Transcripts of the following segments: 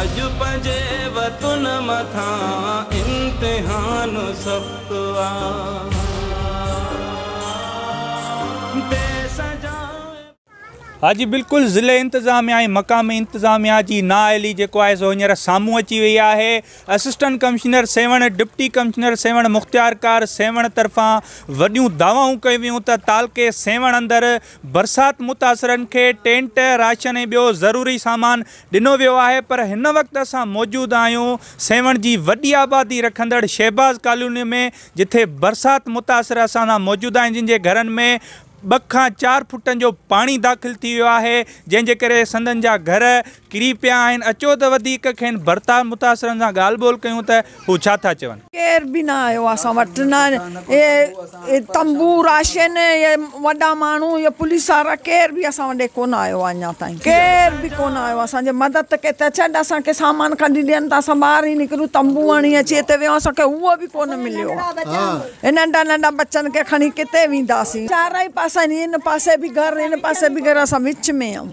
اڄ پنهنجي وطن مٿان امتحان سخت آ. ها جي بلڪل ضلعي انتظاميا ۽ مقامي انتظاميا جي نااهلي جيڪو آهي سو هينئر سامهون اچي وئي آهي assistant commissioner Sehwan deputy commissioner Sehwan مختيارڪار سيوهڻ طرفان وڏيون دعوائون ڪيون ويون ته تعلقي سيوهڻ اندر برسات متاثرن کي ٽينٽ راشن ۽ ٻيو ضروري سامان ڏنو ويو آهي پر هن وقت اسان موجود آهيون سيوهڻ جي وڏي آبادي رکندڙ شهباز ڪالوني ۾ جٿي برسات متاثر اسان سان موجود آهن جن جي گهرن ۾ ٻه کان چار فٽن جو پاڻي داخل ٿي ويو آهي جنهن جي ڪري سندن جا گهر ڪري پيا آهن اچو ته وڌيڪ کين برتات متاثرن سان ڳالهه ٻولهه ڪيون ته هو ڇا ٿا چون؟ ڪير به نه آيو اسان وٽ نه اهي تنبو راشن اهي وڏا ماڻهو اهي پوليس وارا ڪير به اسان وٽ ڪونه آيو آهي اڃا تائين ڪير به ڪونه آيو اسان جي مدد ته ڪي ته ڇڏ اسان کي سامان ڪڍي ڏين ته اسان ٻاهر ئي نڪرون تنبو هڻي اچي هتي ويهون اسان کي اهو به ڪونه مليو آهي ننڍا ننڍا ٻچن کي کڻي ڪٿي وينداسين چارئي پاسن هن پاسي به گهر هن پاسي به گهر اسان وچ ۾ آهيون.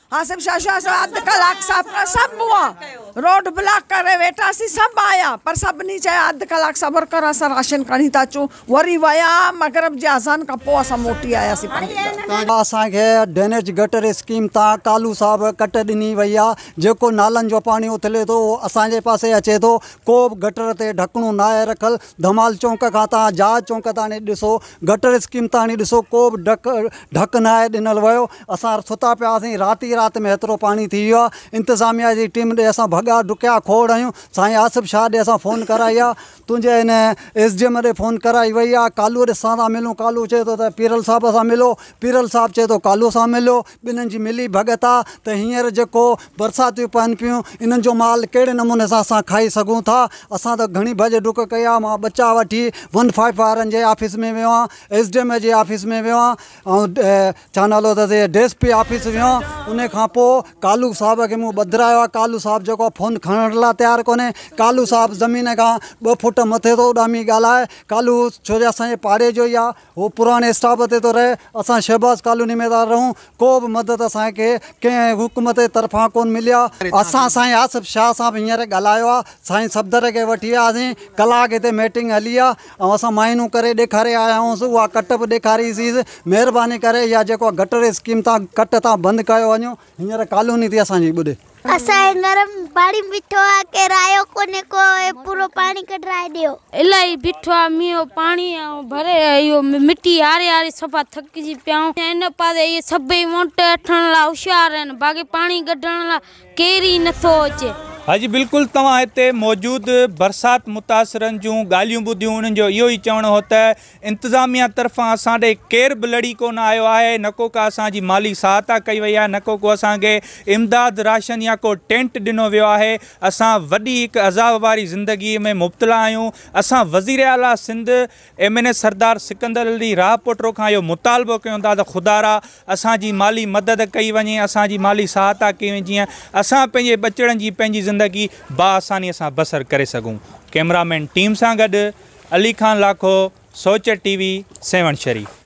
آصف شاهه شاهه اسان اڌ ڪلاڪ سب سب هئا روڊ بلاڪ ڪري ويٺا سي سب آيا پر سڀني چيا اڌ ڪلاڪ صبر ڪر اسان راشن کڻي ٿا اچون وري ويا مغرب جي اذان کان پوء اسان موٽي آياسي پنهنجي گهر اسان کي ڊرينيج گٽر اسڪيم تان ڪالو صاحب ڪٽ ڏني وئي آ جيڪو نالن جو پاڻي اٿلي ٿو اهو اسان جي پاسي اچي ٿو ڪو به گٽر تي ڍڪڻو ناهي رکل ڌمال چونڪ کان تان جهاز چونڪ تاڻي ڏسو گٽر اسڪيم تاڻي ڏسو ڪو به ڍڪ ڍڪ ناهي ڏنل ويو اسان ستا پيا هئاسين، رات ئي رات ۾ هيترو پاڻي ٿي ويو آ، انتظاميا جي ٽيم ڏي اسان ڀڳا، ڊڪيا، کوڙ هنيون، سائين آصف شاهه ڏي اسان فون ڪرائي آ، تنهنجي هن ايس ڊي ايم ڏي فون ڪرائي وئي آ، ڪالوء ڏي سان ٿا ملون، ڪالو چئي ٿو ته پيرل صاحب سان ملو، پيرل صاحب چئي ٿو ڪالو سان ملو، ٻنهن جي ملي ڀڳت آ ته هينئر جيڪو برساتيون پون پيون، انهن جو مال ڪهڙي نموني سان اسان کائي سگهون ٿا، اسان ته گهڻي ڀڄ ڊڪ ڪئي آ، مان ٻچا وٺي ون فائيو وارن جي آفيس ۾ ويو آهيان، ايس ڊي ايم جي آفيس ۾ ويو آهيان، ۽ ڇا نالو اٿس A D S P office ويان ان کان پو ڪالو صاحب کي مون ٻڌرايو آ ڪالو صاحب جيڪو آ فون کڻڻ لا تيار ڪونھي ڪالو صاحب زمين کان ٻه فوٽ مٿي ٿو اڏامي ڳالھائي ڪالو ڇو جو اسان جي پاڙي جو ئي آ ھو پراڻي اسٽاپ تي ٿو رھي اسان شھباز ڪالوني ۾ ٿا رھون ڪو به مدد اسان کي ڪنھن حڪومت جي طرفان ڪون ملي آ اسان سائين آصف شاھ سان به ھينئر ڳالھايو آ سائين صفدر کي وٺي آياسين ڪلاڪ ھتي ميٽنگ ھلي آ آئون اسان معائنو ڪري ڏيکاري آياهونس اها ڪٽ به ڏيکاري سيس مهرباني ڪري اها جيڪو گٽر اسڪيم تان ڪٽ تان بند ڪيو وڃو هينئر ڪالوني ٿي اسان جي ٻڏي. اسان کي گرم پاڻي بيٺو آ ڪير آيو ڪونهي ڪو هي پورو پاڻي ڪڍرائي ڏيو. الاهي بيٺو آ مينهن پاڻي آئون ڀري اهو مٽي هاري هاري صفا ٿڪجي پيا آهيون ان پاسي اهي سڀئي وونٽ اٺڻ لا هوشيار آهن باقي پاڻي ڪڍڻ لا ڪير ئي نٿو اچي. اڄ بلڪل توهان هتي موجود برسات متاثرن جون ڳالهيون ٻڌيون انهن جو اهو ئي چوڻ هو ته انتظاميه طرفان اسان ڏي ڪير به لڙي ڪونه آيو آهي نه ڪو ڪا اسان جي مالي سهائتا ڪئي وئي آهي نه ڪو ڪو اسان کي امداد راشن يا ڪو ٽينٽ ڏنو ويو آهي اسان وڏي هڪ عذاب واري زندگي ۾ مبتلا آهيون اسان وزيراعليٰ Sindh M N A Sardar Sikandar Ali Rahpoto کان اهو مطالبو ڪيون ٿا ته خدارا اسان جي مالي مدد ڪئي وڃي اسان جي مالي سهاتا ڪئي وڃي جيئن اسان پنهنجي ٻچڙن جي پنهنجي زندگي باآساني سان بسر ڪري سگهون ڪئميرا مين ٽيم سان گڏ علي خان لاکو سوچ ٽي وي سيوهڻ شريف.